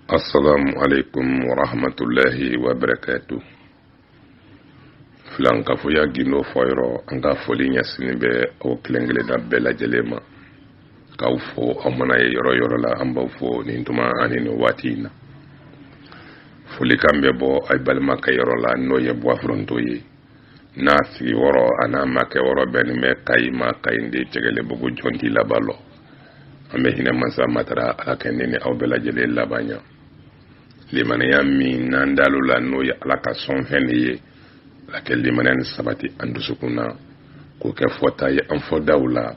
asalaamualeykum wa rahmatullahi wa barakaatu filankafoya gindo fɔyɔrɔ an ka foli ɲɛsinnen bɛ aw kelen kelenna bɛɛ lajɛlen ma k'aw fo aw mana ye yɔrɔ o yɔrɔ la an b'aw fo nin tuma ani nin waati in na folikan bɛ bɔ aw balimakɛ yɔrɔ la n'o ye buwa furonto ye n'a sigiyɔrɔ an'a makɛyɔrɔ bɛnnen bɛ kayi ma kayindi cɛgɛlɛbugu jɔnti laban lɔ an bɛ hinɛ masa matara ala ka ne ni aw bɛɛ lajɛlen laban ɲa limaniya min n'an dalo la n'o ye ala ka sɔnfɛn de ye ala ka limaniya nin sabati an dusukun na k'o kɛ fɔta ye an fɔdaw la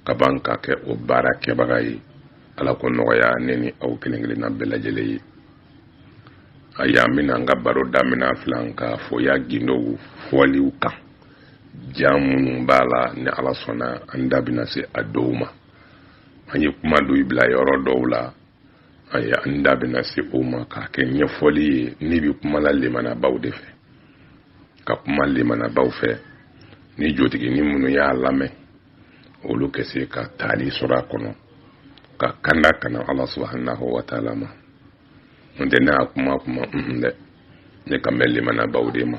ka ban ka kɛ o baara kɛbaga ye ala k'o nɔgɔya ne ni aw kelen kelenna bɛɛ lajɛlen ye ayiwa an bɛna an ka baro damina filankafoya gindo fɔliw kan jan minnu b'a la ni ala sɔnna an da bɛna se a dɔw ma an ye kuma dɔw bila yɔrɔ dɔw la ayiwa an da bɛna se o ma k'a kɛ ɲɛfɔli ye ne bɛ kuma la lemanabaw de fɛ ka kuma lemanabaw fɛ ni jotigi ni minnu y'a lamɛn olu ka se ka taali sɔrɔ a kɔnɔ ka kanda ka na ala subahanahu wa taala ma n tɛ ne y'a kuma kuma n dɛ ne kan bɛ limanabaw de ma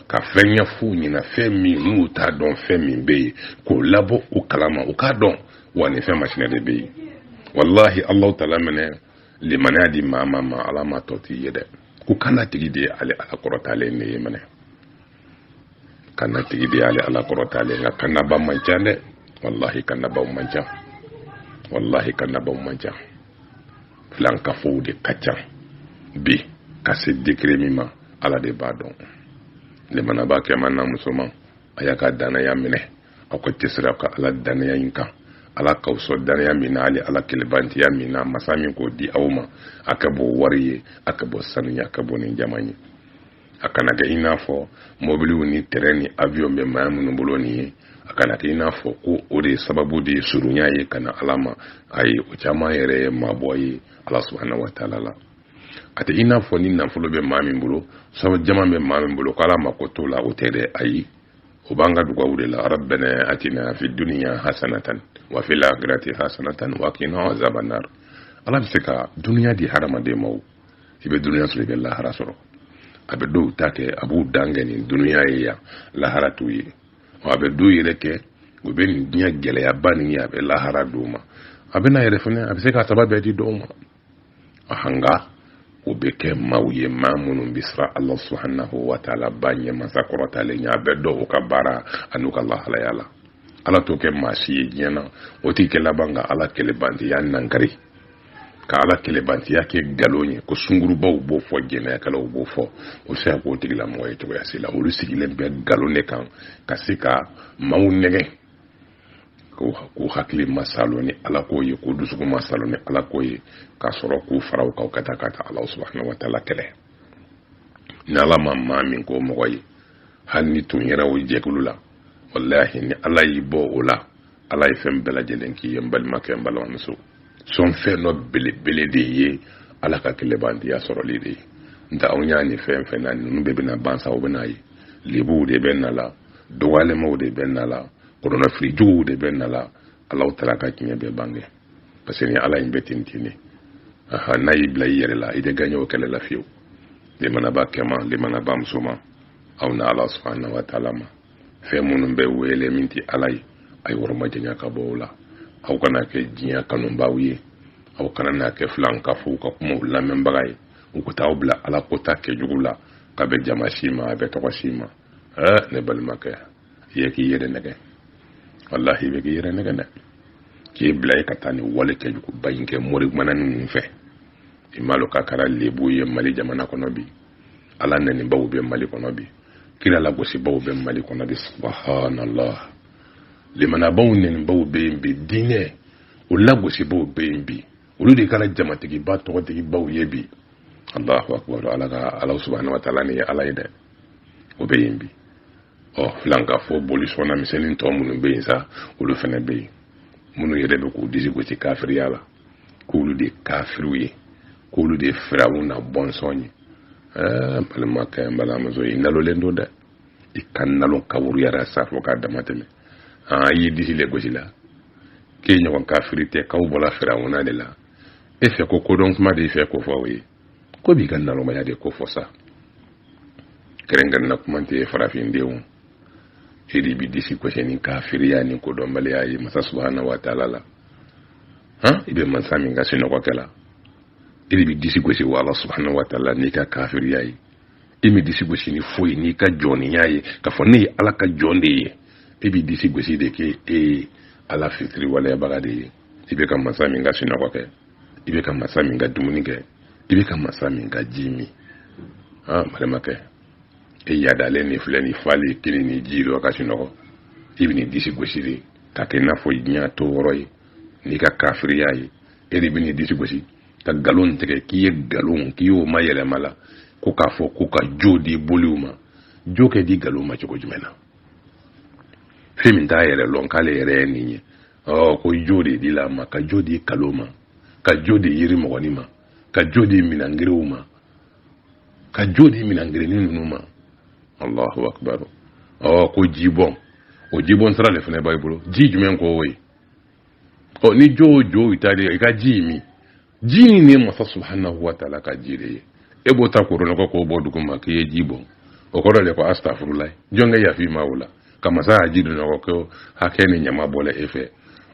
ka fɛn ɲɛf'u ɲɛna fɛn min n'u t'a dɔn fɛn min bɛ yen k'u labɔ o kalama u k'a dɔn wa nin fɛn masina de bɛ yen walahi alahu taala mana limaniya di maa ma ala ma tɔ t'i ye dɛ ko kana tigi de ye ale ala kɔrɔtalen de ye minɛ kana tigi de ye ale ala kɔrɔtalen nka kannaba man ca dɛ walahi kannabaw man ca walahi kannabaw man ca filankafow de ka ca bi ka se degere min ma ala de b'a dɔn lemanaba kɛman n'a musoman a y'aw ka dannaya minɛ aw ka cɛsiri aw ka ala dannaya in kan ala k'aw sɔn dannaya min na hali ala kelebantiya min na masa min k'o di aw ma a ka bon wari ye a ka bon sanu ye a ka bon ni jaman ye a kana kɛ i n'a fɔ mɔbiliw ni tɛrɛn ni avion bɛ maa minnu bolo nin ye a kana kɛ i n'a fɔ ko o de sababu de ye surunya ye ka na ala ma ayi o caman yɛrɛ ye mabɔ ye ala subahana wa taala la a tɛ i n'a fɔ ni nafolo bɛ maa min bolo so jama bɛ maa min bolo ko ala mako t'o la o tɛ dɛ ayi o b'an ka dugawu de la rabbana atina fi duniya hasanatan wa fil akhirati hasanatan wa qina azabannar ala bɛ se ka duniya di hadamaden ma i bɛ dunuya sɔrɔ i bɛ lahara sɔrɔ a bɛ dɔw ta kɛ a b'u dan kɛ nin dunuya ye yan lahara t'u ye wa a bɛ dɔw yɛrɛ kɛ u bɛ nin diɲɛ gɛlɛyaba nin ye a bɛ lahara d'u ma a bɛ na yɛrɛ fana a bɛ se k'a saba bɛɛ di dɔw ma a nka o bɛ kɛ maaw ye maa minnu bɛ siran ala subahanahu wa taala ba ɲɛ masa kɔrɔtalen ɲɛ a bɛ don u ka baara an'u ka lahalaya la ala t'o kɛ maa si ye diɲɛ na o tigi ka laban ka ala kelebantiya nankari ka ala kelebantiya kɛ nkalon ye ko sungurubaw b'o fɔ jɛnɛyakɛlaw b'o fɔ o se ka k'o tigilamɔgɔ ye cogoya si la olu sigilen bɛ nkalon de kan ka se ka maaw nɛgɛn k'u hakili masalo ni ala ko ye k'u dusukun masalo ni ala ko ye ka sɔrɔ k'u fara u kan ka taa ka taa ala subahana wa taala kɛlɛ ni ala ma maa min k'o mɔgɔ ye hali n'i tun yɛrɛ o jɛkulu la walahi ni ala y'i bɔ o la ala ye fɛn bɛɛ lajɛlen k'i ye n balimakɛ n balimamuso sɔnfɛn dɔ belebele de ye ala ka kɛlɛbantiya sɔrɔli de ye nka anw y'a ɲini fɛn fɛn na ninnu bɛɛ bɛna ban sa o bɛna ye lebuw de bɛ n'a la dɔgɔyalɛmaw de bɛ n'a la kɔlɔlɔfirijuguw de bɛ n'a la ala taala ka tiɲɛ bɛ bange parce que ni ala in bɛ ten ten de aha n'a y'i bila i yɛrɛ la i tɛ gaɲɛ o kɛlɛ la fiyewu lemanaba kɛman lemanaba musoman aw na ala subahana wa taala ma fɛn minnu bɛ wele min tɛ ala ye a y'aw yɔrɔmajanya ka bɔ o la aw kana kɛ diɲɛ kanubaaw ye aw kana na kɛ filankafow ka kumaw lamɛnbaga ye u ka t'aw bila ala ko ta kɛjugu la k'a bɛ jama si ma a bɛ tɔgɔ si ma ɛɛ ne balimakɛ i ye k'i yɛrɛ nɛgɛn walahi i bɛ k'i yɛrɛ nɛgɛn dɛ k'i bila i ka taa nin wale kɛjuguba in kɛ mori mana ninnu fɛ i m'a dɔn k'a kɛra lebu ye mali jamana kɔnɔ bi ala nɛnibaw bɛ mali kɔnɔ bi kira lagosibaaw bɛ mali kɔnɔ bi subhanallah limanabaw nɛnibaw bɛ yen bi diinɛ o lagosibaaw bɛ yen bi olu de kɛra jamatigiba tɔgɔtigibaw ye bi allahu akbar ala ka ala subahana wa taala nin ye ala ye dɛ o bɛ yen bi ɔ filankafo bolisɔnna misɛnnin tɔ minnu bɛ yen sa olu fana bɛ yen minnu yɛrɛ bɛ k'u disi gosi kafiriya la k'olu de kafiriw ye k'olu de firawu na bɔnsɔn ye ɛɛ balimakɛ n balimamuso i nalonnen don dɛ i ka nalon kaburuyara sa fo ka damatɛmɛ aa i ye disi le gosi la k'e ɲɔgɔn kafiri tɛ k'aw bɔra firawu na de la e fɛ ko kodɔn kuma de fɛ ko fɔ o ye k'o b'i ka nalonmaya de kofɔ sa kɛrɛnkɛrɛnna kuma tɛ farafindenw e de b'i disi gosi ni kafiriya ni kodɔnbaliya ye masa subahana wa taala la han i bɛ mansa min ka sinɔgɔ kɛ la i de b'i disi gosi wa ala subahana wa taala n'i ka kafiriya ye i m'i disi gosi ni foyi n'i ka jɔniya ye k'a fɔ ne ye ala ka jɔn de ye e b'i disi gosi de k'e e ye ala fitiriwaleyabaga de ye i bɛ ka mansa min ka sinɔgɔ kɛ i bɛ ka mansa min ka dumuni kɛ i bɛ ka mansa min ka ji min han balimakɛ e yadalen de filɛ nin falen kini ni ji dɔ ka sinɔgɔ i bɛn'i disi gosi de k'a kɛ i n'a fɔ diɲɛ to yɔrɔ ye n'i ka kafiriya ye e de bɛn'i disi gosi ka nkalon tigɛ k'i ye nkalon k'i y'o mayɛlɛma la ko k'a fɔ ko ka jo di boliw ma jo kɛ di nkalon ma cogo jumɛn na fɛn min t'a yɛrɛ lɔn k'ale yɛrɛ ye nin ye ɔ ko jo de dila a ma ka jo di kalo ma ka jo di yiri mɔgɔni ma ka jo di minangiriw ma ka jo di minangirinni ninnu ma allahu akbar ɔ ko jibɔn o jibɔn sira de fana b'a bolo ji jumɛn ko o ye ɔ ni jo o jo i ta de i ka ji min ji nin ye masa subhanahu wa taala ka ji de ye e b'o ta k'o rɔnɔgɔ k'o bɔn duguma k'i ye ji bɔn o kɔrɔ de ko astafurula jɔn kɛ yaf'i ma o la ka masa ya ji dɔnɔgɔ ko hakɛ ni ɲama bɔla e fɛ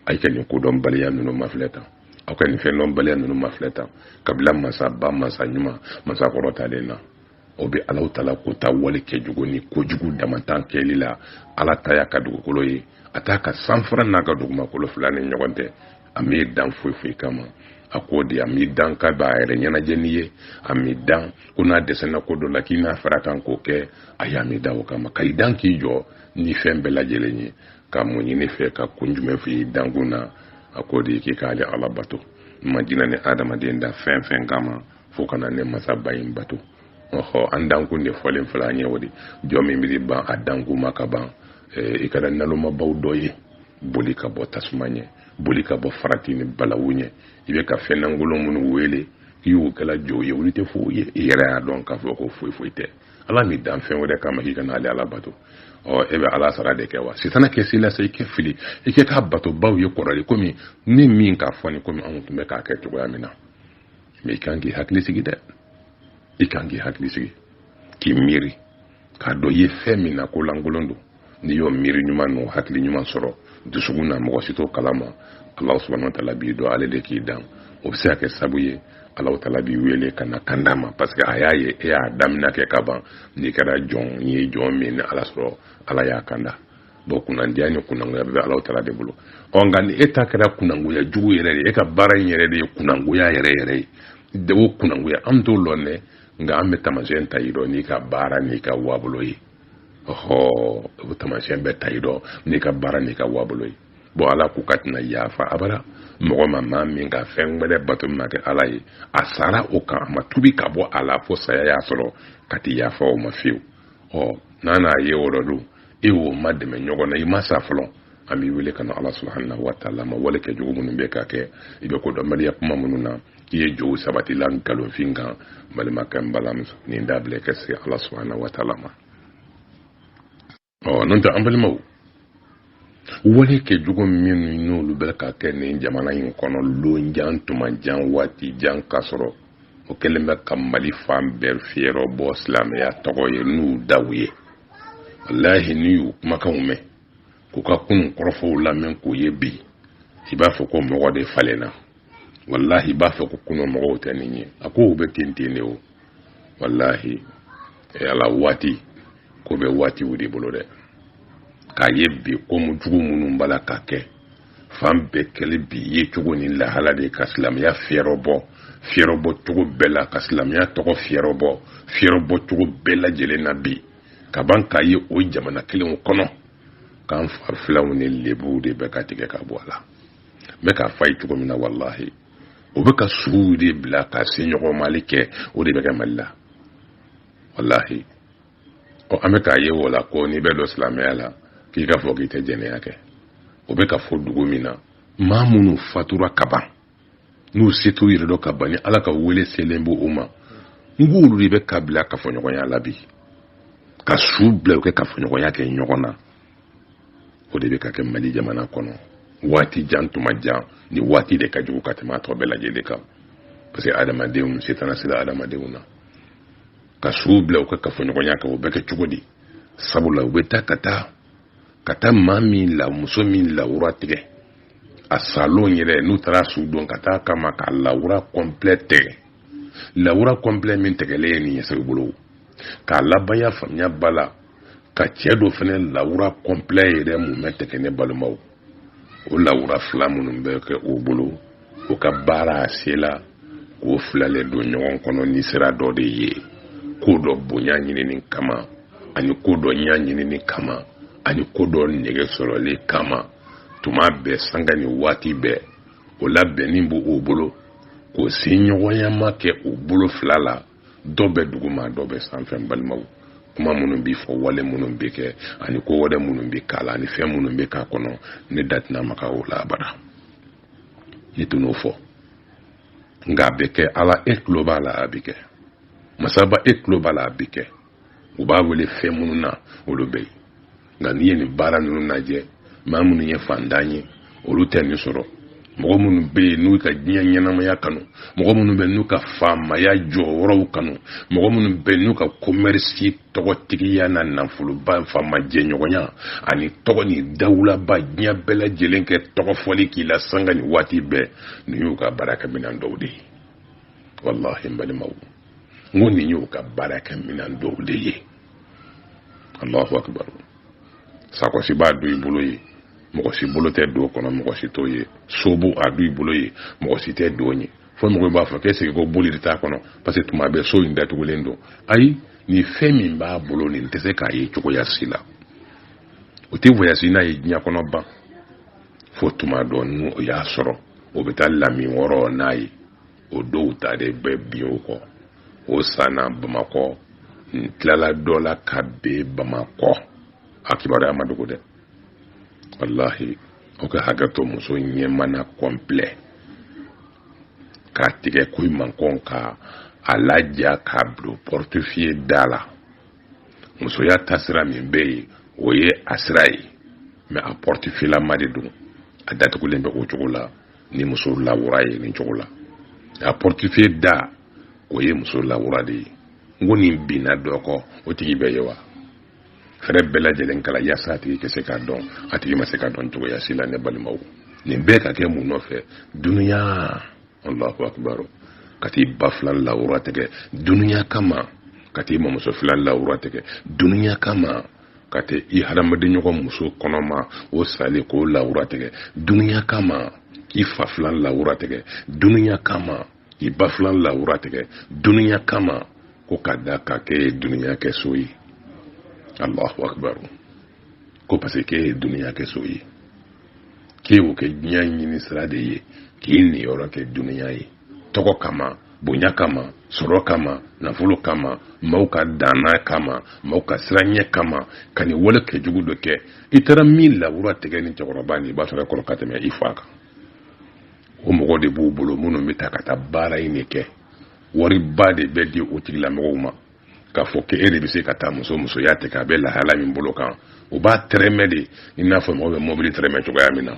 a yi ka nin kodɔnbaliya ninnu mafilɛ tan aw ka nin fɛndɔnbaliya ninnu mafilɛ tan ka bila masa ba masa ɲuman masa kɔrɔtalen na o bɛ alahu taala ko ta wale kɛjugu ni kojugu damantan kɛli la ala ta y'a ka dugukolo ye a t'a ka sanfara n'a ka dugumakolo fila ni ɲɔgɔn tɛ a m'i dan foyi foyi kama a ko de a m'i dan k'a b'a yɛrɛ ɲɛnajɛ n'i ye a m'i dan ko n'a dɛsɛna ko dɔ la k'i na far'a kan k'o kɛ ayi a m'i dan o kama ka i dan k'i jɔ ni fɛn bɛɛ lajɛlen ye ka mun ɲini i fɛ ka kun jumɛn fɛ i dankun na a ko de k'i k'ale ala bato ma jina ni adamaden da fɛn fɛn kama fo ka na ne masaba in bato ɔhɔ an dankun de fɔlen filɛ an ye o de jɔn min bɛ ban a dankun ma ka ban i kɛra nalomabaw dɔ ye boli ka bɔ tasuma ɲɛ boli ka bɔ farati ni balawu ɲɛ i bɛ ka fɛn lankolon minnu wele k'i y'o kɛla jow ye olu tɛ foyi ye i yɛrɛ y'a dɔn k'a fɔ ko foyi foyi tɛ ala m'i dan fɛn wɛrɛ kama k'i ka na ale ala bato ɔ e bɛ ala sara de kɛ wa sitana kɛ se i la sa i kɛ fili i kɛ k'a batobaw ye kɔrɔlen komi ne min k'a fɔ ni komi anw tun bɛ k'a kɛ cogoya min na mɛ i kan k'i hakili sigi dɛ i kan k'i hakili sigi k'i miiri k'a dɔn i ye fɛn min na ko lankolon don n'i y'o miiri ɲuman n'o hakili ɲuman sɔrɔ dusukun na mɔgɔ si t'o kalama ala subhanahu wa taala b'i dɔn ale de k'i dan o bɛ se ka kɛ sabu ye alaw taala b'i wele ka na kanda ma parce que a y'a ye e y'a damina kɛ ka ban n'i kɛra jɔn n'i ye jɔn min ni ala sɔrɔ ala y'a kanda bɔn kunnandiya ni kunnangoya bɛ alaw taala de bolo ɔ nka ni e ta kɛra kunnangoya jugu yɛrɛ de e ka baara in yɛrɛ de ye kunnangoya yɛrɛ yɛrɛ ye de wo kunnangoya an t'o lɔn dɛ nka an bɛ tamasiyɛn ta i dɔ n'i ka baara n'i ka waabolo ye ɔhɔ o tamasiyɛn bɛ ta i dɔ n'i ka baara n'i ka waabolo ye bɔn ala ko k'a tɛna yafa abada mɔgɔ ma maa min ka fɛn wɛrɛ bato min ma kɛ ala ye a sara o kan a ma tubi ka bɔ a la fo saya y'a sɔrɔ k'a ti yafa o ma fiyewu ɔ n'a n'a ye o dɔ don e y'o madɛmɛ ɲɔgɔn na i ma sa fɔlɔ an b'i wele ka na ala subhanahu wa taala ma wale kɛjugu minnu bɛ ka kɛ i bɛ kodɔnbaliya kuma minnu na i ye jow sabatila nkalonfin kan balimakɛ n balimamuso nin dabila ka se ala subahana wataala ma ɔ n'o tɛ an balimaw wale kɛ jugu minnu n'olu bɛ ka kɛ nin jamana in kɔnɔ lon jan tuma jan waati jan k'a sɔrɔ o kelen bɛ ka mali fan bɛɛ fiyɛrɔ bɔ silamɛya tɔgɔ ye n'u daw ye walahi n'i y'u kumakanw mɛn k'u ka kunun kɔrɔfɔw lamɛn k'u ye bi i b'a fɔ ko mɔgɔ de falenna walahi i b'a fɔ ko kunun mɔgɔw tɛ nin ye a kow bɛ ten ten de o walahi ala waati ko bɛ waatiw de bolo dɛ k'a ye bi komu jugu minnu b'a la ka kɛ fan bɛɛ kɛli bi ye cogo ni lahala de ka silamɛya fiyɛrɔ bɔ fiyɛrɔ bɔ cogo bɛɛ la ka silamɛya tɔgɔ fiyɛrɔ bɔ fiyɛrɔ bɔ cogo bɛɛ lajɛlen na bi ka ban k'a ye o jamana kelenw kɔnɔ k'an farifilanw ni lebuw de bɛ ka tigɛ ka bɔ a la n bɛ k'a fɔ a ye cogo min na walahi o bɛ ka suw de bila ka se ɲɔgɔn mali kɛ o de bɛ kɛ mali la walahi ɔ an bɛ k'a ye o la ko n'i bɛ don silamɛya la k'i k'a fɔ k'i tɛ jɛnɛya kɛ o bɛ ka fɔ dugu min na maa minnu fatura kaban n'u setu yɛrɛ dɔ ka ban ala ka wele selen b'u ma n k'olu de bɛ ka bila kafoɲɔgɔnya la bi ka su bila u ka kafoɲɔgɔnya kɛ ɲɔgɔn na o de bɛ ka kɛ mali jamana kɔnɔ waati jan tuma jan nin waati de ka jugu ka tɛmɛ a tɔ bɛɛ lajɛlen kan parce que adamadenw setana sera adamadenw na ka suw bila u ka kafoɲɔgɔnya kɛ o bɛ kɛ cogo di sabula u bɛ taa ka taa ka taa maa min la muso min lawura tigɛ a salen yɛrɛ n'u taara su don ka taa kama ka lawura kɔnplɛ tigɛ lawura kɔnplɛ min tigɛlen ye nin ye segu bolo k'a labanya faamuya ba la ka cɛ dɔ fana lawura kɔnplɛ yɛrɛ mun bɛ tigɛ ne balimaw o lawura fila minnu bɛ kɛ o bolo o ka baara a se la k'o filalen don ɲɔgɔn kɔnɔ nin sira dɔ de ye ko dɔ bonya ɲinini kama ani ko dɔ ɲa ɲinini kama ani ko dɔ nege sɔrɔli kama tuma bɛɛ sanga ni waati bɛɛ o labɛnnen b'o bolo k'o se ɲɔgɔnyama kɛ o bolo fila la dɔ bɛ duguma dɔ bɛ sanfɛ balimaw kuma minnu bɛ fɔ wale minnu bɛ kɛ ani ko wɛrɛ minnu bɛ k'a la ani fɛn minnu bɛ k'a kɔnɔ ne da tɛna maga o la abada ne tɛn'o fɔ nka a bɛ kɛ ala e tulo b'a la a bɛ kɛ masaba e tulo b'a la a bɛ kɛ u b'a wele fɛn minnu na olu bɛ yen nka n'i ye nin baara ninnu lajɛ maa minnu ye fantan ye olu tɛ nin sɔrɔ mɔgɔ minnu bɛ yen n'u ka diɲɛ ɲɛnamaya kanu mɔgɔ minnu bɛ n'u ka faamaya jɔyɔrɔw kanu mɔgɔ minnu bɛ n'u ka komɛrisi tɔgɔtigiya na nafoloba faama jɛɲɔgɔnya ani tɔgɔ ni dawulaba diɲɛ bɛɛ lajɛlen kɛ tɔgɔ fɔli k'i la sanga ni waati bɛɛ nin y'u ka baarakɛminɛn dɔw de ye walahi n balimaw n ko nin y'u ka baarakɛminɛn dɔw de ye alahu akibaru sakɔsi b'a dɔw bolo yen mɔgɔ si bolo tɛ don kɔnɔ mɔgɔ si t'o ye so b'a dɔw bolo yen mɔgɔ si tɛ don yen fo mɔgɔ b'a fɔ k'est-ce que boli de t'a kɔnɔ parce que tuma bɛɛ so in datugulen don ayi nin fɛn min b'a bolo nin tɛ se k'a ye cogoya si la o tɛ voyage n'a ye diɲɛ kɔnɔ ban fo tuma dɔ n'o y'a sɔrɔ o bɛ taa lami wɔɔrɔ n'a ye o dɔw ta de bɛ bin o kɔ o san na bamakɔ n tilala dɔ la ka bin bamakɔ a kibaruya ma dogo dɛ walahi aw ka hakɛ to muso ɲɛmana kɔnpilɛ k'a tigɛ ko mankɔn k'a laja k'a bila pɔrɔtifiye da la musoya taasira min bɛ yen o ye a sira ye mɛ a pɔrɔtifiyelama de don a datugulen bɛ o cogo la ni muso lawura ye nin cogo la a pɔrɔtifiye da o ye muso lawura de ye n ko nin binna dɔ kɔ o tigi bɛ yen wa fɛɛrɛ bɛɛ lajɛlen kɛla yaasa a tigi ka se ka dɔn a tigi ma se ka dɔn cogoya si la ne balimaw nin bɛɛ ka kɛ mun nɔfɛ dunuya allahu akibaru ka t'i ba filan lawura tigɛ dunuya kama ka t'i mamuso filan lawura tigɛ dunuya kama ka t'i hadamadenɲɔgɔn muso kɔnɔma o salen k'o lawura tigɛ dunuya kama k'i fa filan lawura tigɛ dunuya kama k'i ba filan lawura tigɛ dunuya kama ko ka da a kan k'e ye dunuya kɛ so ye alahu akibaru ko parce que k'e ye dunuya kɛ so ye k'e y'o kɛ diɲɛ ɲini sira de ye k'i niyɔrɔ kɛ dunuya ye tɔgɔ kama bonya kama sɔrɔ kama nafolo kama maaw ka danna kama maaw ka siranɲɛ kama ka nin wale kɛ jugu dɔ kɛ i taara min lawura tigɛ ni cɛkɔrɔba ni i b'a sɔrɔ kɔrɔ ka tɛmɛ i fa kan o mɔgɔ de b'u bolo minnu bɛ taa ka taa baara in de kɛ wariba de bɛ di o tigilamɔgɔw ma k'a fɔ ko e de bɛ se ka taa muso musoya tigɛ a bɛ lahala min bolo kan o b'a tɛrɛmɛ de i n'a fɔ mɔgɔ bɛ mɔbili tɛrɛmɛ cogoya min na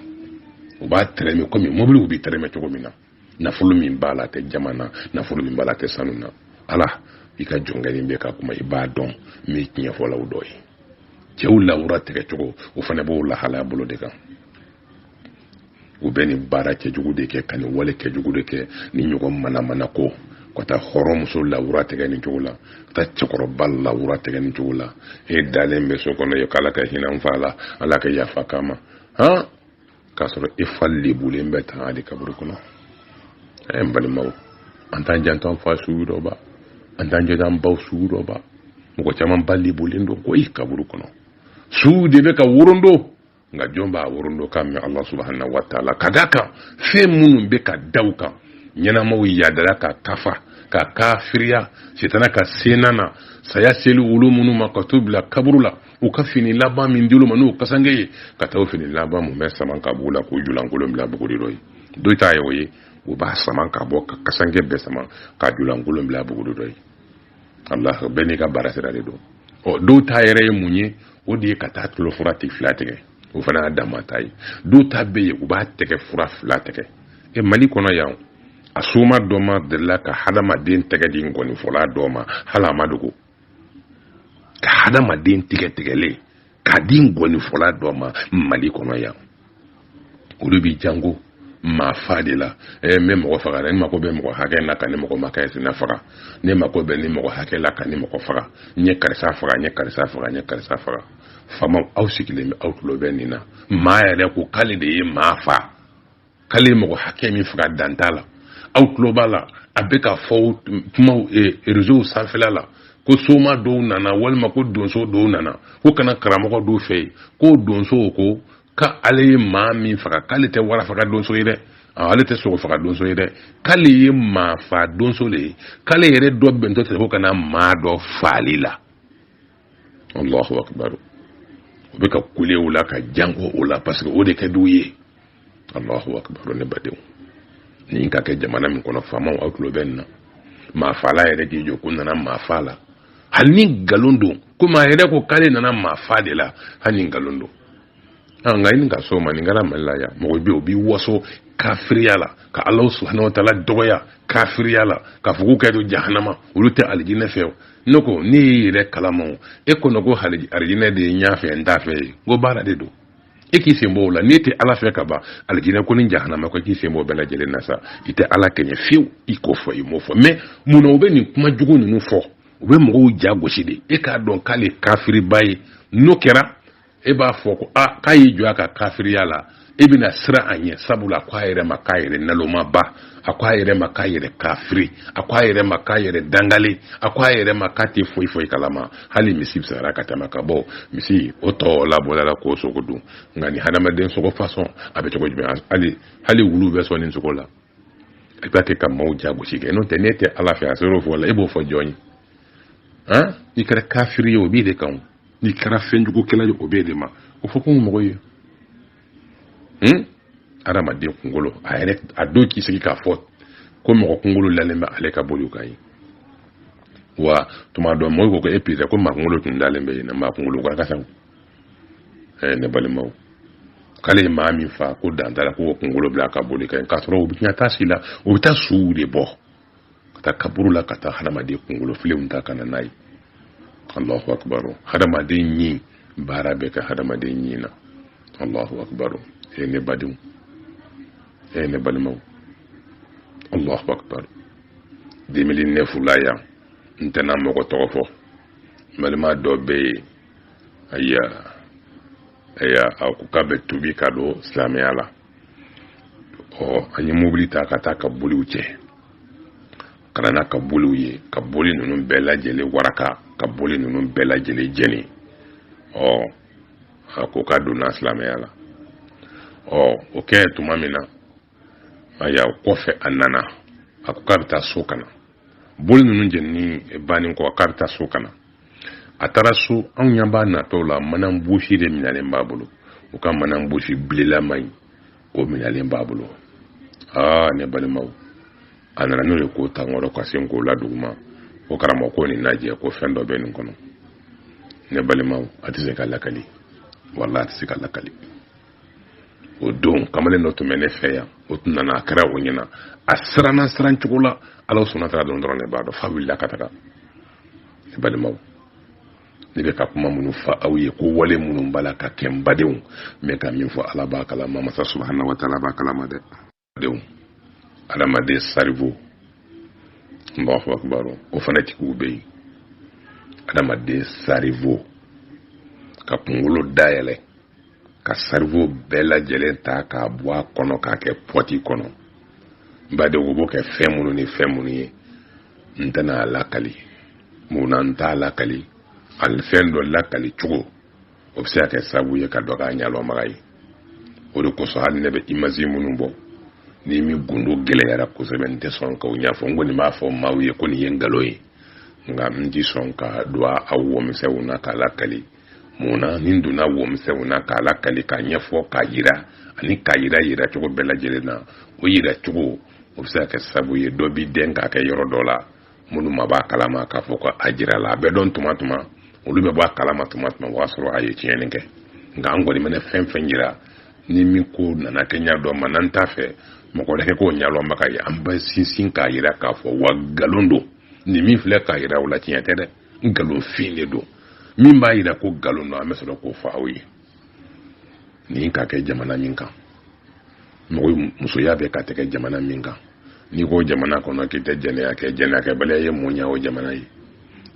o b'a tɛrɛmɛ komi mɔbiliw bɛ tɛrɛmɛ cogo min na nafolo min b'a la tɛ jaman na nafolo min b'a la tɛ sanu na ala i ka jɔnkɛnin bɛ ka kuma i b'a dɔn n bɛ tiɲɛfɔlaw dɔ ye cɛw lawura tigɛcogo o fana b'o lahalaya bolo de kan u bɛ nin baara cɛjugu de kɛ ka nin wale cɛjugu de kɛ nin ɲɔgɔn manamana ko ka taa hɔrɔnmuso lawura tigɛ nin cogo la ka taa cɛkɔrɔba lawura tigɛ nin cogo la e dalen bɛ so kɔnɔ yen k'ala ka hinɛ n fa la ala ka yafa k'a ma han k'a sɔrɔ e fa lebulen bɛ tan ka da kaburu kɔnɔ ɛɛ n balimaw an t'an janto an fa suw dɔ ba an t'an janto an baw suw dɔ ba mɔgɔ caman ba lebulen don koyi kaburu kɔnɔ suw de bɛ ka worondo nka jɔn b'a worondo ka mɛn ala subahana wa taala ka d'a kan fɛn minnu bɛ ka da u kan ɲɛnamaw yadara ka kafa ka kafiriya sitana ka senna na saya selen olu minnu ma ka t'u bila kaburu la u ka fini laban min dil'u ma n'o kasange ye ka taa o fini laban nin bɛɛ saman ka b'u la k'u julankolon bila buguri dɔ yen dɔ ta ye o ye u b'a saman ka bɔ ka kasange bɛɛ saman ka julankolon bila buguri dɔ yen allah bɛɛ n'i ka baara sira de don ɔ dɔw ta yɛrɛ ye mun ye o de ye ka taa tulo fura tɛ fila tigɛ o fana y'a dama ta ye dɔw ta bɛ yen u b'a tɛgɛ fura fila tigɛ e mali kɔnɔ yan a soma dɔ ma delila ka hadamaden tɛgɛ di nkɔnifɔla dɔ ma hali a ma dogo ka hadamaden tɛgɛ tigɛlen k'a di ngɔnifɔla dɔ ma mali kɔnɔ yan olu b'i jango maa fa de la ɛ n bɛ mɔgɔ faga dɛ n mako bɛ mɔgɔ hakɛ la ka nin mɔgɔ ma kɛ sina faga ne mako bɛ nin mɔgɔ hakɛ la ka nin mɔgɔ faga n ye karisa faga n ye karisa faga n ye karisa faga faamaw aw sigilen bɛ aw tulo bɛ nin na maa yɛrɛ ko k'ale de ye maa fa k'ale ye mɔgɔ hakɛ min faga dan t'a la aw tulo b'a la a bɛ ka fɔ kumaw eh, reseau sanfɛla la ko soma dɔw nana walima ko donso dɔw nana ko ka na karamɔgɔ dɔw fɛ yen ko donso ko ka ale ye maa min faga k'ale tɛ wara faga donso ye dɛ ah, ale tɛ sogo faga donso ye dɛ k'ale ye maa fa donso le ye k'ale yɛrɛ dɔbɛntɔ de ko ka na maa dɔ faali la allahu akbar u bɛ ka kule o la ka jango o la parce que o de ka d'u ye allahu akbar ne badenw nin ka kɛ jamana min kɔnɔ faamaw aw tulo bɛ nin na maafaala yɛrɛ k'i jɔ ko n nana maafa la hali ni nkalon don komi a yɛrɛ ko k'ale nana maafa de la hali ni nkalon don an nka i ni ka so ma nin kɛra mali la yan mɔgɔ bɛ o b'i waso kafiriya la ka ala subahana wa taala dɔgɔya kafiriya la ka fɔ k'u ka don jahanama olu tɛ alijinɛ fɛ o ne ko ne y'i yɛrɛ kalama o e kɔnɔ ko alijinɛ de ye n y'a fɛ n t'a fɛ ye n ko baara de don e k'i sen b'o la n'e tɛ ala fɛ ka ban alijinɛ ko ni jahanama ko k'i sen b'o bɛɛ lajɛlen na sa i tɛ ala kɛɲɛ fiyewu i k'o fɔ i m'o fɔ mais mun na u bɛ nin kuma jugu ninnu fɔ u bɛ mɔgɔw ja gosi de e k'a dɔn k'ale kafiriba ye n'o kɛra e b'a fɔ ko a k'a y'i jɔ a ka kafiriya la e bɛna siran a ɲɛ sabula a ko a yɛrɛ ma k'a yɛrɛ nalomaba a ko a yɛrɛ ma k'a yɛrɛ kafiri a ko a yɛrɛ ma k'a yɛrɛ dangale a ko a yɛrɛ ma k'a tɛ foyi foyi kalama hali misi bisara ka tɛmɛ ka bɔ misi o tɔ labɔla la k'o sogo dun nka ni hadamaden sogo fasɔn a bɛ cogo jumɛn hali hali wulu bɛ sɔn nin sogo la i b'a kɛ ka maaw jagosi kɛ n'o tɛ n'e tɛ ala fɛ a ser'o fɔ la e b'o fɔ jɔn ye n'i kɛra kafiri ye o b'i de kan n'i kɛra fɛnjugukɛla ye o b'e de ma o fɔ ko mɔgɔ ye hun adamaden kunkolo a yɛrɛ a don k'i sigi k'a fɔ ko mɔgɔ kunkolo lalen bɛ ale ka boliw kan ye wa tuma dɔ mɔgɔw ko ko e pizza ko maa kunkolo tun dalen bɛ yen na maa kunkolo ka kasaw ɛɛ ne balimaw k'ale ye maa min fa ko dantara k'o kunkolo bila a ka boli kan k'a sɔrɔ u bɛ taa sigi la u bɛ taa suw de bɔ ka taa kaburu la ka taa hadamaden kungolofilenw ta ka na n'a ye allahu akbaru hadamaden ɲi baara bɛ kɛ hadamaden ɲi na allahu akbaru e ne badenw e ne balimaw allahu akbaru 2009 la yan n tɛna mɔgɔ tɔgɔ fɔ balima dɔ bɛ yen ayiwa ayiwa a ko k'a bɛ tubi ka don silamɛya la ɔ an ye mobili ta ka taa ka boliw cɛ ka na n'a ka boliw ye ka boli ninnu bɛɛ lajɛlen waraka ka boli ninnu bɛɛ lajɛlen jeni ɔ a ko k'a donna silamɛya la ɔ o kɛ tuma min na ayiwa o kɔfɛ a nana a ko k'a bɛ taa so ka na boli ninnu jɛnini bannen kɔ k'a bɛ taa so ka na a taara so anw ɲɛ b'a natɔ la manan bosi de minɛlen b'a bolo u ka manan bosi bilelama in o minɛlen b'a bolo aa ne balimaw a nana n'o ye k'o ta n kɔrɔ ka se k'o la duguma ko karamɔgɔ ko nin lajɛ ko fɛn dɔ bɛ nin kɔnɔ ne balimaw a tɛ se ka lakali wala a tɛ se ka lakali o don kamalen dɔ tun bɛ ne fɛ yan o tun nana a kɛra o ɲɛna a siranna siran cogo la ala subahana wa taala dɔn dɔrɔn ne b'a dɔn f'a wulila ka taga ne balimaw ne bɛ ka kuma minnu fɔ aw ye ko wale minnu b'a la ka kɛ n badenw n bɛ ka min fɔ ala b'a kalama masa subahana wa taala b'a kalama dɛ denw adamaden cerveau allahu akbaru o fana tigiw bɛ yen adamaden cerveau ka kunkolo dayɛlɛ ka cerveau bɛɛ lajɛlen ta k'a bɔ a kɔnɔ k'a kɛ pɔti kɔnɔ n badenw o b'o kɛ fɛn minnu ni fɛn minnu ye n tɛna a lakali mun na n t'a lakali a fɛn dɔ lakali cogo o bɛ se ka kɛ sababu ye ka dɔ k'a ɲɛlɔnbaga ye o de kosɔn hali ne bɛ image minnu bɔ ni min gundo gɛlɛyara kosɛbɛ n tɛ sɔn k'o ɲɛfɔ n kɔni b'a fɔ maaw ye ko nin ye nkalon ye nka n ti sɔn ka don a wɔmisɛnw na k'a lakali mun na ni n donna wɔmisɛnw na k'a lakali k'a ɲɛfɔ k'a yira ani k'a yira yira cogo bɛɛ lajɛlen na o yira cogo o bɛ se ka kɛ sababu ye dɔ b'i dɛn k'a kɛ yɔrɔ dɔ la minnu ma b'a kalama k'a fɔ ko a jira la a bɛ dɔn tuma tuma olu bɛ bɔ a kalama tuma tuma o b'a sɔrɔ a ye tiɲɛni kɛ nka an kɔni mana fɛn fɛn yira ni min ko nana kɛ ɲa dɔ ma n'an t'a fɛ mɔgɔ wɛrɛ ka k'o ɲɛlɔnbaga ye an bɛ sinsin k'a yira k'a fɔ wa nkalon don nin min filɛ k'a yira o la tiɲɛ tɛ dɛ nkalonfin de don min b'a yira ko nkalon don an bɛ sɔrɔ k'o fɔ aw ye nin ka kɛ jamana min kan mɔgɔ musoya bɛ ka tɛgɛ jamana min kan n'i ko jamana kɔnɔ k'i tɛ jɛnɛya kɛ jɛnɛyakɛbaliya ye mun ɲɛ o jamana ye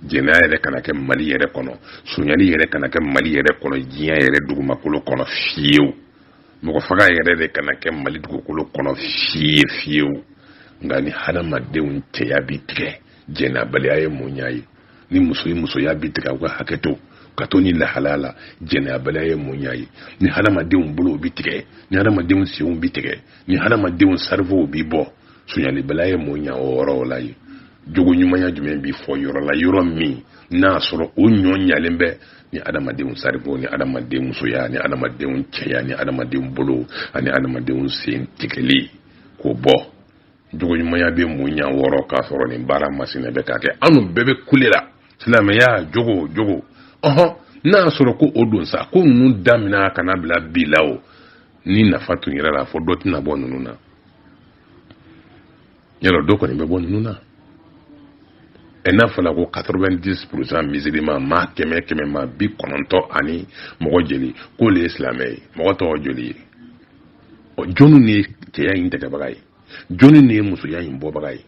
jɛnɛya yɛrɛ kana kɛ mali yɛrɛ kɔnɔ sonyali yɛrɛ kana kɛ mali yɛrɛ kɔnɔ diɲɛ yɛrɛ dugumakolo kɔnɔ fiyewu mɔgɔ faga yɛrɛ de kana kɛ mali dugukolo kɔnɔ fiye fiyewu nka ni hadamadenw cɛya bi tigɛ jɛnɛyabaliya ye mun ɲɛ ni muso ye musoya bi tigɛ u ka hakɛ to ka to ni lahalaya la jɛnɛyabaliya ye mun ɲɛ ye ni hadamadenw bolow bi tigɛ ni hadamadenw senw bi tigɛ ni hadamadenw cerveau bi bɔ sonyalibaliya ye mun ɲɛ o yɔrɔw la ye jogo ɲumanya jumɛn bi fɔ yɔrɔ la yɔrɔ min n'a sɔrɔ o ɲɔ ɲalen bɛ ni adamadenw cerveau ni adamadenw musoya ni adamadenw cɛya ni adamadenw bolo ani adamadenw sen tigɛli k'o bɔ jogoɲumanya bɛ mun ɲɛ o yɔrɔ k'a sɔrɔ nin baara masina bɛ ka kɛ anw bɛɛ bɛ kule la silamɛya jogo jogo ɔhɔn n'a y'a sɔrɔ ko o don sa ko ninnu damina ka na bila bi la o ni nafa tun yɛrɛ la fɔ dɔ tɛna bɔ ninnu na yɔrɔ dɔ kɔni bɛ bɔ ninnu na ɛ n'a fɔla ko 90 pourcent musulman maa kɛmɛ kɛmɛ maa bi kɔnɔntɔn ani mɔgɔ joli k'olu ye silamɛ ye mɔgɔ tɔgɔ joli ye ɔ jɔnni de ye cɛya in tɛgɛbaga ye jɔnni de ye musoya in bɔbaga ye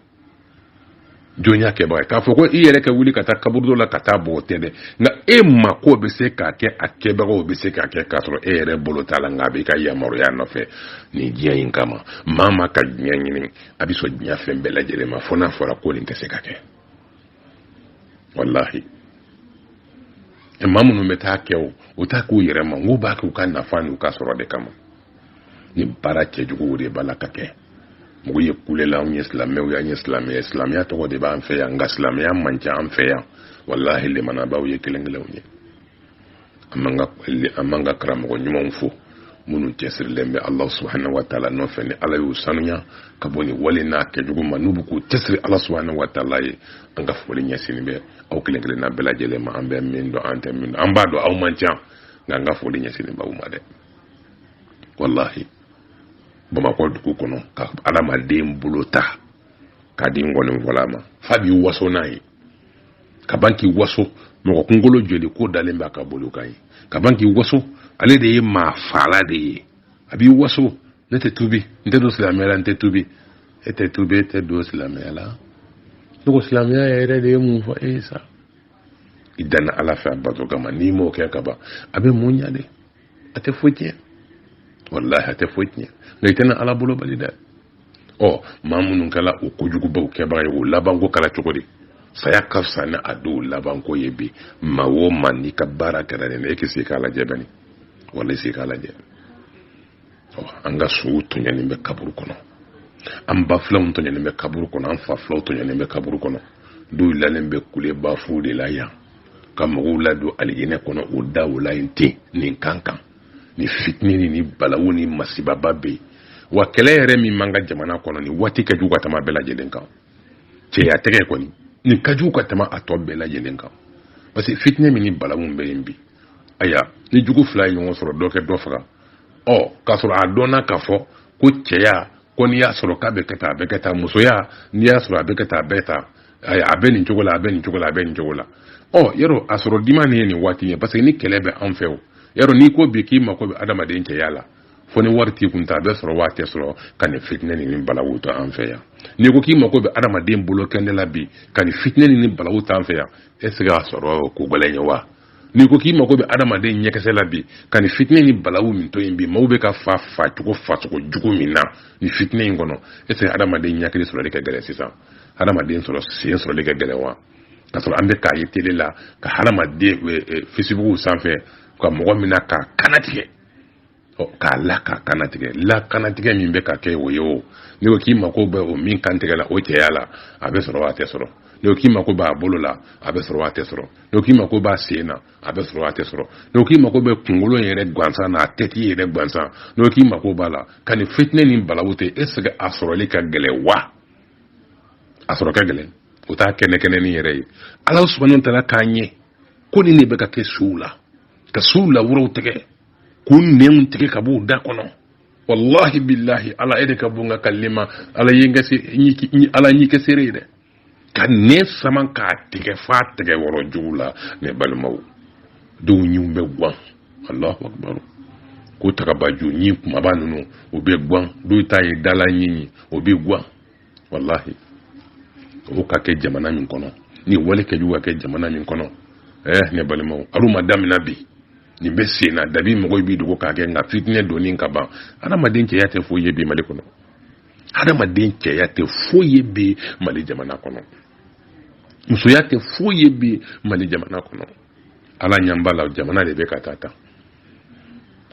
jɔn y'a kɛbaga ye k'a fɔ ko i yɛrɛ ka wuli ka taa kaburudo la ka taa bɔ tɛ dɛ nka e mako bɛ se k'a kɛ a kɛbagaw bɛ se k'a kɛ k'a sɔrɔ e yɛrɛ bolo t'a la nka a b'i ka yamaruya nɔfɛ nin diɲɛ in kama maa ma ka diɲɛ ɲini a bɛ sɔn diɲɛ fɛn bɛɛ lajɛlen ma fo n'a fɔra ko nin tɛ se ka kɛ walahi e maa minnu bɛ t'a kɛ o u t'a k'u yɛrɛ ma n'u b'a kɛ u ka nafa n'u ka sɔrɔ de kama nin baara cɛjuguw de b'a la ka kɛ mɔgɔ ye kulela anw ye silamɛw ye an ye silamɛ ye silamɛya tɔgɔ de b'an fɛ yan nka silamɛya man ca an fɛ yan walahi lemanabaaw ye kelen kelenw ye an man ka karamɔgɔ ɲumanw fo minnu cɛsirilen bɛ ala subahana wa taala nɔfɛ ni ala y'u sanuya ka bɔ nin wale n'a kɛcogo ma n'u bɛ k'u cɛsiri ala subahana wa taala ye an ka foli ɲɛsin bɛ aw kelen kelenna bɛɛ lajɛlen ma an bɛ min dɔn an tɛ min dɔn an b'a dɔn aw man ca nka an ka foli ɲɛsin b'aw ma dɛ walahi bamakɔ dugu kɔnɔ ka adamaden bolo ta k'a di nkɔnifɔla ma f'a b'i waso n'a ye ka ban k'i waso mɔgɔ kunkolo joli ko dalen b'a ka boli kan yen ka ban k'i waso ale de ye maa faala de ye a b'i waso ne tɛ tubi n tɛ don silamɛya la n tɛ tubi e tɛ tubi e tɛ don silamɛya la ne ko silamɛya yɛrɛ de ye mun fɔ e ye sa i danna ala fɛ a bato kama n'i m'o kɛ ka ban a bɛ mun ɲa de a tɛ foyi tiɲɛ walahi a tɛ foyi tiɲɛ nka i tɛna ala bolo bali dɛ ɔ maa minnu kɛla o kojugubaw kɛbaga ye o labanko kɛra cogo di saya ka fisa ni a dɔw labanko ye bi maa o maa n'i ka baara kɛra nin na e k'i sigi k'a lajɛ bani walahi i sigi k'a lajɛ ɔ an ka suw tɔɲɔnen bɛ kaburu kɔnɔ an ba filanw tɔɲɔnen bɛ kaburu kɔnɔ an fa filanw tɔɲɔnen bɛ kaburu kɔnɔ dɔw lalen bɛ kule bafuw de la yan ka mɔgɔw ladon alijinɛ kɔnɔ o daw la yen ten nin kan kan nin fitinɛ ni nin balawu ni masibaba bɛ yen wa kɛlɛ yɛrɛ min b'an ka jamana kɔnɔ nin waati ka jugu ka tɛmɛ a bɛɛ lajɛlen kan cɛya tɛgɛ kɔni nin ka jugu ka tɛmɛ a tɔ bɛɛ lajɛlen kan parce que fitinɛ min ni balawu bɛ yen bi aya ni jugu fila ye ɲɔgɔn sɔrɔ dɔ kɛ dɔ faga ɔ k'a sɔrɔ a dɔnna k'a fɔ ko cɛya ko n'i y'a sɔrɔ k'a bɛ kɛ tan a bɛ kɛ tan musoya n'i y'a sɔrɔ a bɛ kɛ tan a bɛ tan a bɛ nin cogo la a bɛ nin cogo la a bɛ nin cogo la o yɔrɔ a sɔrɔ dimannin ye nin waati ye parce que ni kɛlɛ bɛ anw fɛ o yɔrɔ n'i ko bi k'i mako bɛ adamaden cɛya la fo ni wari t'i kun ta a bɛ sɔrɔ wa a tɛ sɔrɔ ka nin fitinɛ ni nin balawu to an fɛ yan n'i ko k'i mako bɛ adamaden bolo kɛnɛ la bi ka nin fitinɛ ni nin balawu t'an fɛ yan est ce que a sɔrɔ ko gɛlɛn ye wa n'i ko k'i mago bɛ adamaden ɲɛkisɛ la bi ka nin fitinɛ ni balawu min to yen bi maaw bɛ ka fa facogo facogo jugu min na nin fitinɛ in kɔnɔ est ce que adamaden ɲakili sɔrɔli ka gɛlɛn sisan adamaden sɔrɔ sen sɔrɔli ka gɛlɛn wa ka sɔrɔ an bɛ k'a ye tele la ka hadamaden eh, eh, facebook sanfɛ ka mɔgɔ mina k'a kannatigɛ k'a la k'a kannatigɛ lakannatigɛ min bɛ ka kɛ o ye o n'i ko k'i mako bɛ o min kan tigɛla o cɛya la a bɛ sɔrɔ a tɛ sɔrɔ n'i ko k'i mako b'a bolo la a bɛ sɔrɔ a tɛ sɔrɔ n'i ko k'i mako b'a sen na a bɛ sɔrɔ a tɛ sɔrɔ n'i ko k'i mako bɛ kunkolo yɛrɛ gansan na a tête yɛrɛ gansan n'i ko k'i mako b'a la ka nin fitinɛ ni balawu to yen est ce que a sɔrɔli ka gɛlɛn wa a sɔrɔ ka gɛlɛn o t'a kɛnɛ kɛnɛnin yɛrɛ ye ala subahana taala k'a ɲɛ ko nin de bɛ ka kɛ suw la ka suw lawuraw tigɛ k'u nɛnw tigɛ ka b'u da kɔnɔ wallahi billahi ala e de ka bon ka kali ma ala ye n kase ala y'i kɛ seere ye dɛ ka nɛn sama k'a tigɛ f'a tigɛ wɔrɔ jugu la ne balimaw dɔw ɲiw bɛ gwan allahu akbar ko tagabaju ɲi kumaba ninnu o bɛ gwan dɔw ta ye dala ɲi o bɛ gwan walahi o ka kɛ jamana min kɔnɔ nin wale kɛjugu ka kɛ jamana min kɔnɔ ɛɛ eh, ne balimaw alu ma damina bi nin bɛ sen na dabi mɔgɔw b'i dogo k'a kɛ nka fitinɛ donni ka ban adamaden cɛya tɛ foyi ye bi mali kɔnɔ adamaden cɛya tɛ foyi ye bi mali jamana kɔnɔ musoya tɛ foyi ye bi mali jamana kɔnɔ ala ɲɛ b'a la jamana de bɛ ka taa tan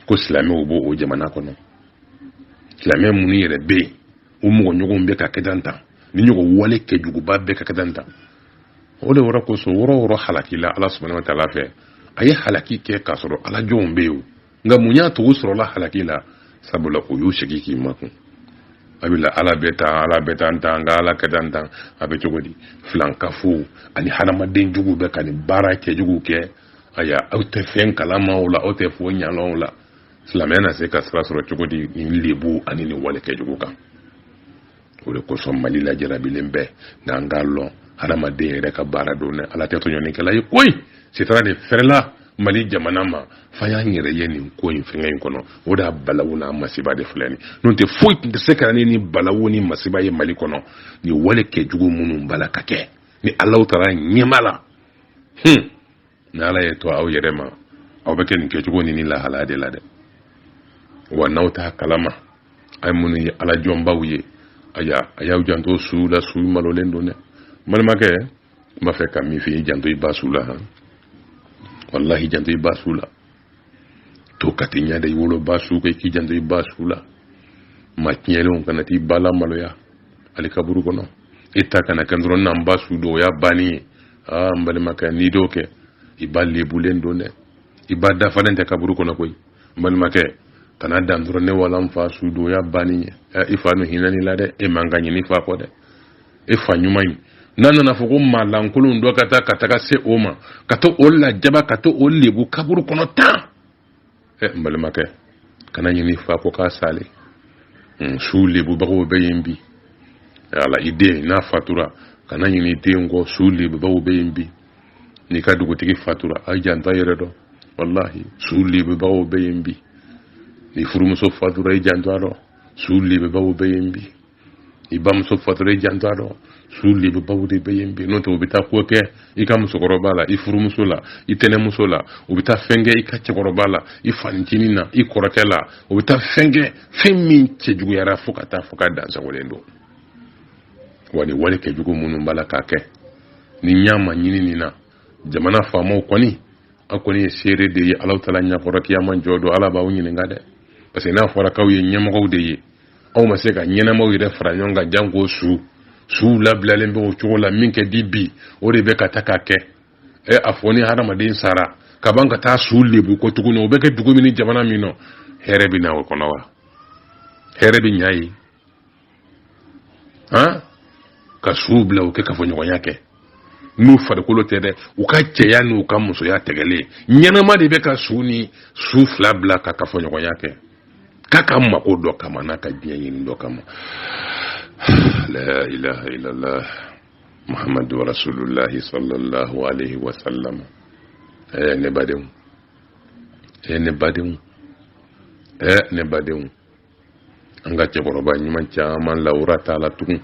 ko silamɛw b'o o jamana kɔnɔ silamɛ minnu yɛrɛ bɛ yen o mɔgɔ ɲɔgɔnw bɛ ka kɛdan ta ni ɲɔgɔn wale kɛjuguba bɛ ka kɛdan ta o de wɔrɔ kosɔn wɔrɔ wɔrɔ halakila ala subahana wa taala fɛ a ye halaki kɛ k'a sɔrɔ alajɔnw bɛ yen nka mun y'a to u sɔrɔla halaki la sabula o y'u sigi k'i makun a bɛ ala bɛ tan ala bɛ tan tan nka ala kɛ tan tan a bɛ cogo di filankafo ani hadamaden jugu bɛ ka nin baara kɛjugu kɛ aya aw tɛ fɛn kalama o la aw tɛ foyi ɲalɔn o la silamɛya na se ka sira sɔrɔ cogo di nin lebu ani nin wale kɛjugu kan o de kosɔn mali lajarabilen bɛ nka an k'a lɔn hadamaden yɛrɛ ka baara don dɛ ala tɛ tɔɲɔnikɛla ye koyi sitanɛ de fɛrɛla mali jamana ma f'an y'an yɛrɛ ye nin ko in fɛngɛ in kɔnɔ o de y'a balawu n'a masiba de filɛ nin n'o tɛ foyi tun tɛ se ka na ni balawu ni masiba ye mali kɔnɔ nin wale kɛjugu minnu b'a la ka kɛ ni ala taara ɲɛma la hun ni ala ye to aw yɛrɛ ma aw bɛ kɛ nin kɛcogo ni nin lahalaya de la dɛ wa n'aw t'a kalama a ye minnu ye ala jɔnbaw ye aya a y'aw janto suw la suw malolen don dɛ n balimakɛ n b'a fɛ ka min f'i ye janto i ba su la han walahi janto i ba su la to ka t'i ɲɛ da i woloba su kan i k'i janto i ba su la ma tiɲɛlenw kana t'i ba lamaloya ali kaburu kɔnɔ i ta kana kɛ dɔrɔn n'an ba su don o y'a banni ye aa n balimakɛ n'i d'o kɛ i ba lebulen don dɛ i ba dafalen tɛ kaburu kɔnɔ koyi n balimakɛ kana dan dɔrɔn ne wala n fa su don o y'a banni ye i fa nu hinɛn'i la dɛ e man kan ɲinɛ i fa kɔ dɛ e fa ɲuman ye n'a nana fɔ ko maa lankolon dɔ ka taa ka taga se o ma ka to o lajaba ka to o lebu kaburu kɔnɔ tan ɛ n balimakɛ kana ɲin'i fa kɔ k'a sale hmm, su lebubagaw bɛ yen bi ala i den n'a fatura kana ɲin'i den kɔ su lebubagaw bɛ yen bi n'i ka dugutigi fatura a jant'a yɛrɛ dɔ walahi su lebubagaw bɛ yen bi n'i furumuso fatura i janto a dɔ su lebubagaw bɛ yen bi i bamuso fatura i jant'a dɔ su lebubaw de bɛ yen bi n'o tɛ u bɛ taa ko kɛ i ka musokɔrɔba la i furumuso la i tɛnɛmuso la u bɛ taa fɛn kɛ i ka cɛkɔrɔba la i fancinin na i kɔrɔkɛ la u bɛ taa fɛn kɛ fɛn min cɛjuguyara fo ka taa fo ka dansagolen don wa ni wale kɛjugu minnu b'a la k'a kɛ ni ɲa ma ɲini nin na jamana faamaw kɔni aw kɔni ye seere de ye alahu taala ɲakɔrɔ kiyama jɔ don ala b'aw ɲininka dɛ parce que n'a fɔra k'aw ye ɲɛmɔgɔw de ye aw ma se ka ɲɛnamaw yɛrɛ fara ɲɔgɔn kan janko su suw labilalen bɛ o cogo la min kɛ di bi o de bɛ ka ta ka kɛ ɛ a fɔ ni hadamaden sara ka ban ka taa su lebu ko tuguni o bɛ kɛ dugu min ni jamana min nɔ hɛrɛ bɛ na o kɔnɔ wa hɛrɛ bɛ ɲa yen han ka suw bila o kɛ kafoɲɔgɔnya kɛ n'u farikolo tɛ dɛ u ka cɛya ni u ka musoya tɛgɛlen ɲɛnama de bɛ ka su ni su fila bila ka kafoɲɔgɔnya kɛ k'a ka mako dɔ kama n'a ka diɲɛ ɲini dɔ kama la ilaha illallah muhammadu rasulullahi sallallahu alaihi wa sallam ɛɛ ne badenw ɛɛ ne badenw ɛɛ ne badenw an ka cɛkɔrɔba ɲuman caman lawura t'a la tugun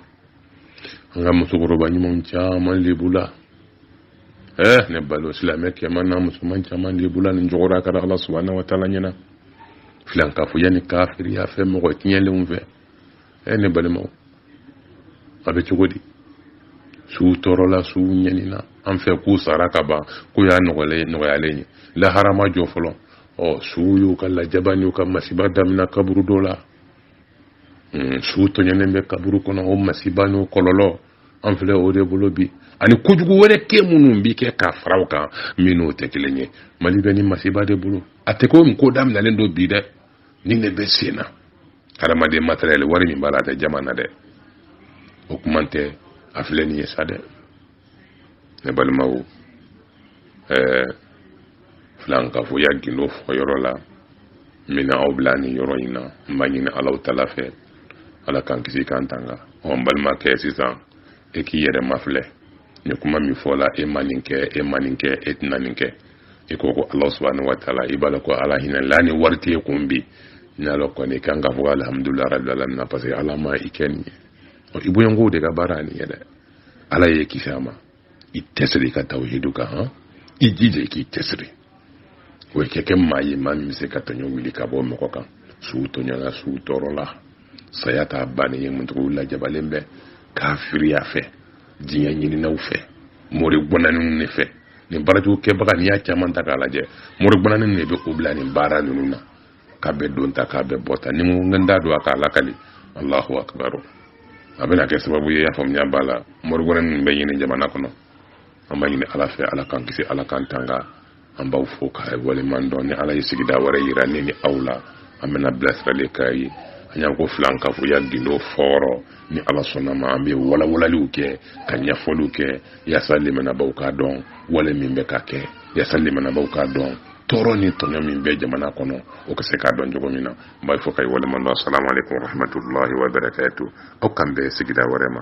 an ka musokɔrɔba ɲumanw caman lebula eh ne balima silamɛ kɛman n'a musoman caman lebula nin jɔgɔra ka da ala subahana wa taala ɲɛna filankafoya ni kafiriya fɛ mɔgɔ tiɲɛlenw fɛ eh ne balimaw a bɛ cogo di suw tɔɔrɔla suw ɲɛnina an fɛ k'u sara ka ban k'u y'a nɔgɔyalen ye lahara ma jɔ fɔlɔ ɔ suw y'u ka lajaba n'u ka masiba damina kaburudo la hmm, suw tɔɲɛnen bɛ kaburu kɔnɔ o masiba n'o kɔlɔlɔ an filɛ o de bolo bi ani kojugu wɛrɛ kɛ minnu bi kɛ ka fara o kan minnu tɛ kelen ye mali bɛ nin masiba de bolo a tɛ ko ko daminɛlen don bi dɛ nin de bɛ sen na hadamaden matériel wari min b'a la a tɛ jaman na dɛ o kuma tɛ a filɛ nin ye sa dɛ ne balimaw ɛɛ filankafoya gindo fɔyɔrɔ la n bɛna aw bila nin yɔrɔ in na n b'a ɲini alahu taala fɛ ala k'an kisi k'an tanga ɔ n balimakɛ sisan e k'i yɛrɛ mafilɛ nin kuma min fɔla e ma nin kɛ e ma nin kɛ e tɛna nin kɛ i ko ko ala subahana wa taala i b'a dɔn ko ala hinɛla ni wari t'e kun bi n'i y'a lɔn kɔni i kan k'a fɔ alhamdulilayi rabi alamina parce que ala ma i kɛ nin ye ɔ i bɔɲɔgɔnkow de ka baara ye nin ye dɛ ala y'i kisi a ma i tɛsiri i ka tawhidu kan han i jija i k'i tɛsiri o kɛ kɛ maa ye maa min bɛ se ka tɔɲɔ wuli ka bɔ mɔgɔ kan suw tɔɲɔla suw tɔɔrɔla saya t'a bannen ye mun suw lajabalen bɛ kafiriya fɛ diɲɛ ɲininaw fɛ mori gbɔnaniw de fɛ nin baarajugu kɛbaga n'i y'a caman ta k'a lajɛ mori gbɔnani de b'u bila nin baara ninnu na k'a bɛ don ta k'a bɛ bɔ ta ni n n da don a k'a lakali alahu akibaru a bɛna kɛ sababu ye y'a faamuya b'a la morigɔrɛ min bɛ nin jamana kɔnɔ an b'a ɲini ala fɛ ala k'an kisi ala k'an tanga an b'aw fo k'aw waleɲuman dɔn ni ala ye sigida wɛrɛ yira ne ni aw la an bɛna bilasirali k'aw ye an y'an ko filan ka fɔ ya gindo fɔɔrɔ ni ala sɔnn'a ma an bɛ walawalaliw kɛ ka ɲɛfɔliw kɛ yaasa limanabaw k'a dɔn wale min bɛ ka kɛ yaasa limanabaw k'a dɔn tɔɔrɔ ni tɔɲɔ min bɛ jamana kɔnɔ o ka se k'a dɔn cogo min na n b'aw fo k'aw waleɲuman dɔn asalamu aleykum warahmatullahi wabarakatu aw k'an bɛn sigida wɛrɛ ma